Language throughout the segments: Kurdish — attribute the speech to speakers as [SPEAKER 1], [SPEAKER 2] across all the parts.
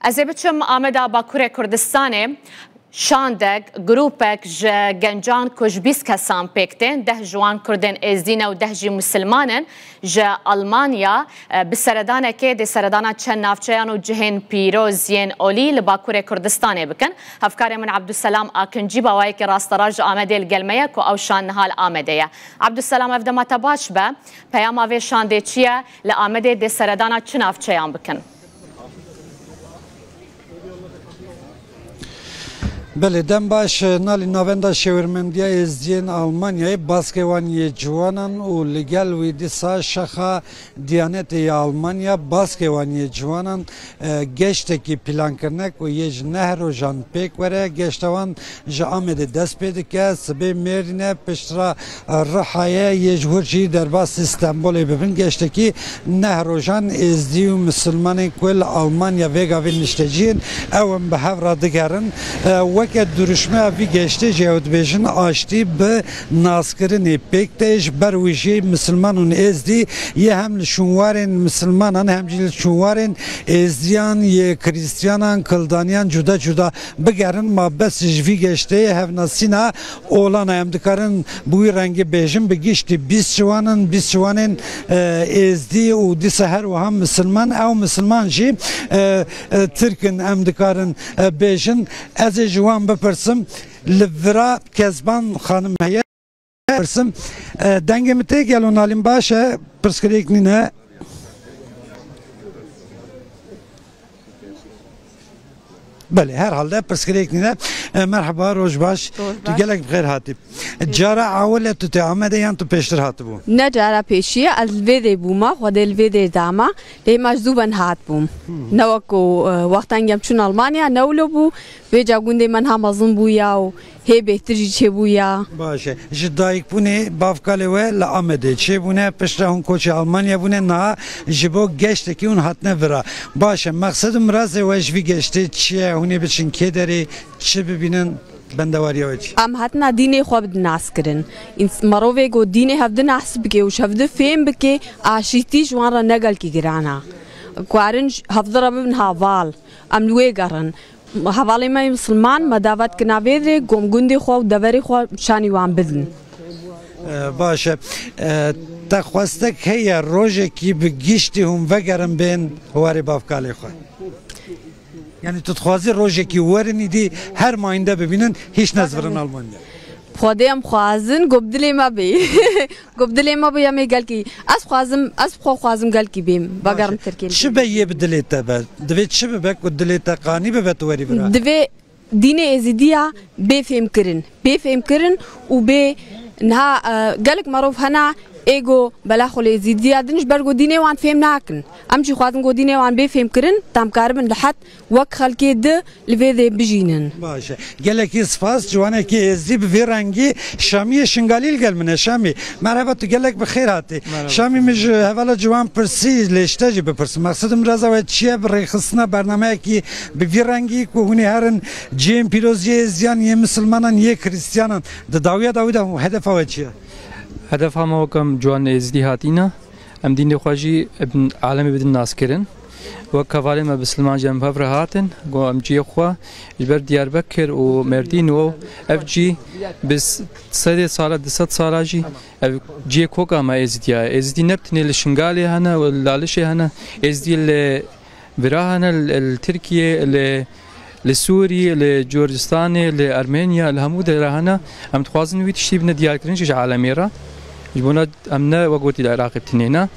[SPEAKER 1] Ez ê biçim Ameda Bakurê Kurdistanê şandek grûpek ji gencan ku ji bîst kesan pêk tên deh ji wan Kurdên Êzdî ne û deh jî Musilman in ji Almanya e, bi seredanekê dê seredana çend navçeyan û cihên pîroz yên olî li Bakurê Kurdistanê bikin. Hevkarê min Abdulselam Akincî bawayekî rasterast ji Amedê li gel me ye ku ew şand niha li Amedê ye. Abdulselam ev dema te baş be peyama vê şandê çi ye? Li Amedê dê seredana çi navçeyan bikin?
[SPEAKER 2] Belê dem baş e. Nalî Navenda Şêwirmendiya Êzidiyên Almanyayê baskê wan yê ciwanan û li gel wî dîsa Şaxa Diyanetê ya Almanya baskê wan yê ciwanan Geştekî pîlankirine ku yê ji neh rojan pêk were, geşta wan ji Amedê dest pê dike, sibê Mêrîne, piştre Rihayê yê ji hûr jî derbasî Stenbolê bibin. Geştekî neh rojan Êzdî û Misilmanên ku li Almanya vêgavî niştecî yên ew in bi hev re digerin. Weke dirûşmeya vî geştê jî ew dibêjin aştî bi Naskirinê pêk tê ji ber wî jî Misilman û Êzdî yê hem li şûnwarên Misilmanan hem jî li şûnwarên Êzdiyan yê Krîstiyanan, Kildaniyan cuda cuda bigerin. Ma bes ji vî geştê hevnasîna olan e. Em dikarin bi wî rengî bêjin bi giştî bîst ciwan in, bîst ciwanên Êzdî û dîsa her wiha Misilman. Ew Misilman jî Tirk in em dikarin bêjin. Ez ê ji wan bipirsim Li vira Kezban xanim heye. Pirsim dengê min tê gelo nalîn baş e pirsgirêk nîn e. Belê her halde pirsgirêk nîne. E, Merhaba roj baş. Roj Tu baş. gelek bi xêr hatî. Cara awile tu tê Amedê yan tu pêştir hatibû? Ne cara pêşiye
[SPEAKER 3] ez li vê dê bûma, xwedê li vê dê dama, lê hema ji zû ben hatbûm. Ne wek ku e, wextan gem çûn Almanya, newlo bû, Vê ca gundê me niha mezin bû ya û hê bêhtir jî çêbû ya. Baş e. Ji
[SPEAKER 2] dayikbûnê bavkalê we li Amedê çêbûne, piştre hûn koçê Almanya bûne, niha ji bo geştekî hûn hatine vira. Baş e, mexsed û mirazê we ji vî geştê çi ye, hûn ê biçin kê derê, çi bibînin, bendewariya we çi? Em hatina dînê xwe
[SPEAKER 3] bidinazkirin. Mirovê ku dînê hev dinaz bike û ji hev di fêm bike, aşîtî ji wan re ne gelkî giran e. Karin hev di re bibin haval. Em li wê gerin. Hevalên me yên misilman me davet ki navê rê kom gundê xwe û deverê xwe şanî wan bidin.
[SPEAKER 2] Baş e. Te xwestek heye rojekî bi giştî hûn vegerin bên warê bavkalê xwe? Yanî tu dixwazî rojekî werin îdî her mayînde bibînin hîç nezvirin Almanya? Xwedê em
[SPEAKER 3] xwazin ku bi dilê me bê. Ku bi dilê me bû yemê gelkî. Ez xwazim, ez bi xwe xwazim gelkî bêm, vegerim Tirkiyê me. Çi be yê bi dilê
[SPEAKER 2] te be? Divê çi bibe ku dilê te qanî bibe tu werî bira? Divê dînê
[SPEAKER 3] Êzidî ya bê fêmkirin. Bê fêmkirin û bê niha gelek merov hene ê ku bela xwe li Êzidî ya din ji ber ku dînê wan fêm nakin. Em jî xwazin ku dînê wan bê fêmkirin, damkaribin li het Wek xelkê di li vê dê bijînin. Baş e. Gelekî
[SPEAKER 2] spas. Ciwanekî êzidî bi vî rengî Şamiyê Şingalî li gel min e. Şamî, Merheba tu gelek bi xêr hatî. Şamî min ji hevala ciwan pirsî lê ji te jî bipirsim. Mexsedim reza we çi ye bi rêxistina bernameyekî bi vî rengî ku hûn ê herin cihên pîroz yê êzidiyan, yê misilmanan, yê krîstiyanan. Di dawiya dawî de hedefa we çi ye? Hedefa me
[SPEAKER 4] weke ciwan êzidî hatîn e. Em dînê xwe jî alemê bidin naskirin. Wek hevalên me bi Silman jî em hev re hatin. Got em cihê xwe ji ber Diyarbekir û Mêrdîn û ev cî bi sedê sala du sed sala jî ev cihê koka me Êzidiya ye. Êzidî ne bi tenê li Şingalê hene û li Lalişê hene. Êzidî li Virahane li Tirkiyê, li Sûrî, li Curdistanê, li Ermeniya, li hemû derehane em dixwazin wî tiştî bine diyarkirin ji alemê re. Ji bona em ne wek gotî li Iraqê tune ne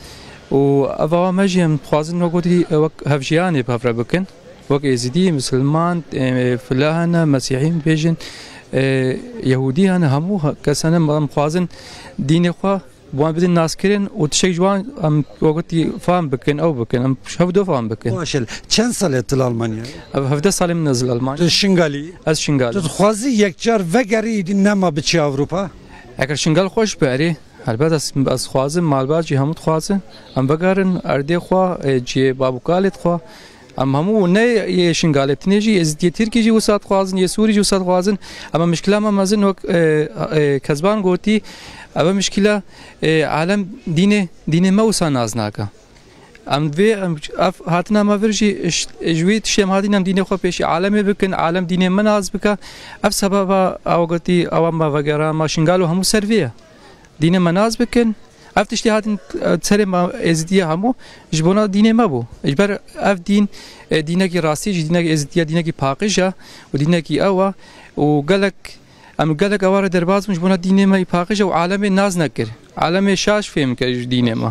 [SPEAKER 4] û ev awa me jî em dixwazin wek gotî wek hevjiyanê bi hev re bikin. Wek êzidî, misilman, filahane, mesîhî bibêjin, yehûdî hene hemû kes hene em dixwazin dînê xwe, Bi wan bidin naskirin û tişek ji wan em wek gotî fam bikin ew bikin em ji hev do fam bikin. Baş e. Çend sal e
[SPEAKER 2] tu li Almanyayê yî? Ev hevdeh salên min e
[SPEAKER 4] ez li Almanyayê yîm. Tu Şingalî yî? Ez Şingalî
[SPEAKER 2] yîm. Tu
[SPEAKER 4] dixwazî yekcar
[SPEAKER 2] vegerî nema biçî Ewropa? Eger Şingal
[SPEAKER 4] xweş be erê. Helbet ez dixwazim malbat jî hemû dixwazin em vegerin erdê xwe cihê babûkalê xwe. Em hemû ne yê Şingalê tenê jî Êzidiyê Tirkî jî wisa dixwazin, yê Sûrî jî wisa dixwazin. Em e mişkila me mezin wek Kezban gotî ev e mişkila alem dînê dînê me wisa nas nake. Em divê ev hatina me vir jî ji wî tiştê em hatîn em dînê xwe pêşî alemê bikin, alem dînê me nas bike. Ev sebeba ew gotî ewa me vegera me Şingal û hemû ser vê ye. Dînê me nas bikin. Ev tiştê hatin serê me êzîdiye hemû ji bona dînê me bû. Ji ber ev dîn dînekî rastî jî dînekî êzîdiye dînekî paqij e û dînekî ew e û gelek em gelek eware derbas bûn ji bona dînê me paqij e û alemê nas nekir. Alemê şaş fêm kir ji dînê me.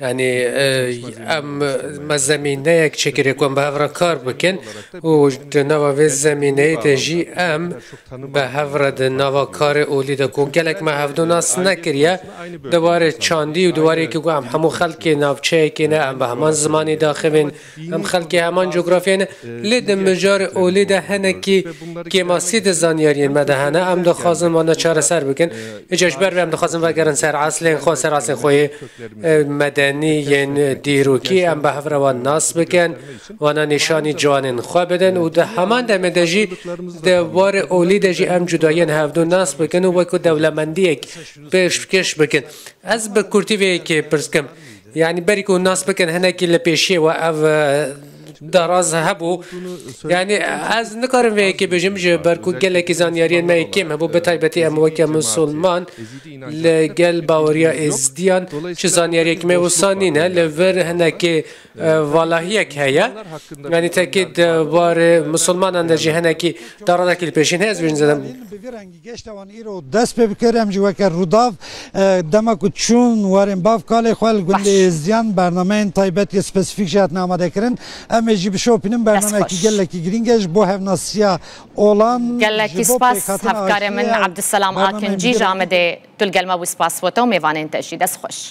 [SPEAKER 5] Yanî em me zemîneyek çêkirî ku em bi hev re kar bikin û di nava vê zemîneyê de jî em bi hev re di nava karê olî de ku gelek me hevdû nas nekiriye di warê çandî û di warê yekê ku em hemû xelkê navçeyekê ne em bi heman zimanî diaxivin, Em xelkê heman cografyayê ne, lê di mijarê olê de hinekî kêmasî di zanyariyên me de hene. Em dixwazin wan çareser bikin. Îcar ji ber vê em dixwazin vegerin ser eslên xwe, ser eslên xwe yê medenî yên dîrokî. Em bi hev re wan nas bikin, wana nîşanî ciwanên xwe bidin û di heman demê de jî di warê olî de jî em cudayiyên hevdu nas bikin û wek dewlemendiyek pêşkêş bikin. Ez bi kurtî vê yekê pirs dikim. Yanî berî ku nas bikin hinekî li pêşiyê we ev daraz hebû. Yanî ez nikarim vê yekê bijim ji ber ku gelekî zanyariyên me yê kêm hebû bi taybetî em weke misilman li gel baweriya êzidiyan çi zanyariyek me wisa nîne. Li vir hinekî valahiyek heye. Yanî tekî di barê misilmanan de jî hinekî darazekî li pêşiyê ne ez bêjim zêde Geşta wan îro
[SPEAKER 2] dest pê bikir em jî weke Rûdaw dema ku çûn warên bav kalê xwe li gundê Êzdiyan bernameyên taybet yê spesîfîk jî hatine amadekirin. Em ê jî bişopînin bernameyekî gelekî girîng e ji bo hevnasiya olan, ji bo pêkhatina aştiyê û bernameyên
[SPEAKER 1] dîkê re. Gelekî spas hevkarê min Abdulselam Akincî ji Amedê tu li gel me bû spas wete û mêvanên te jî. Dest xweş.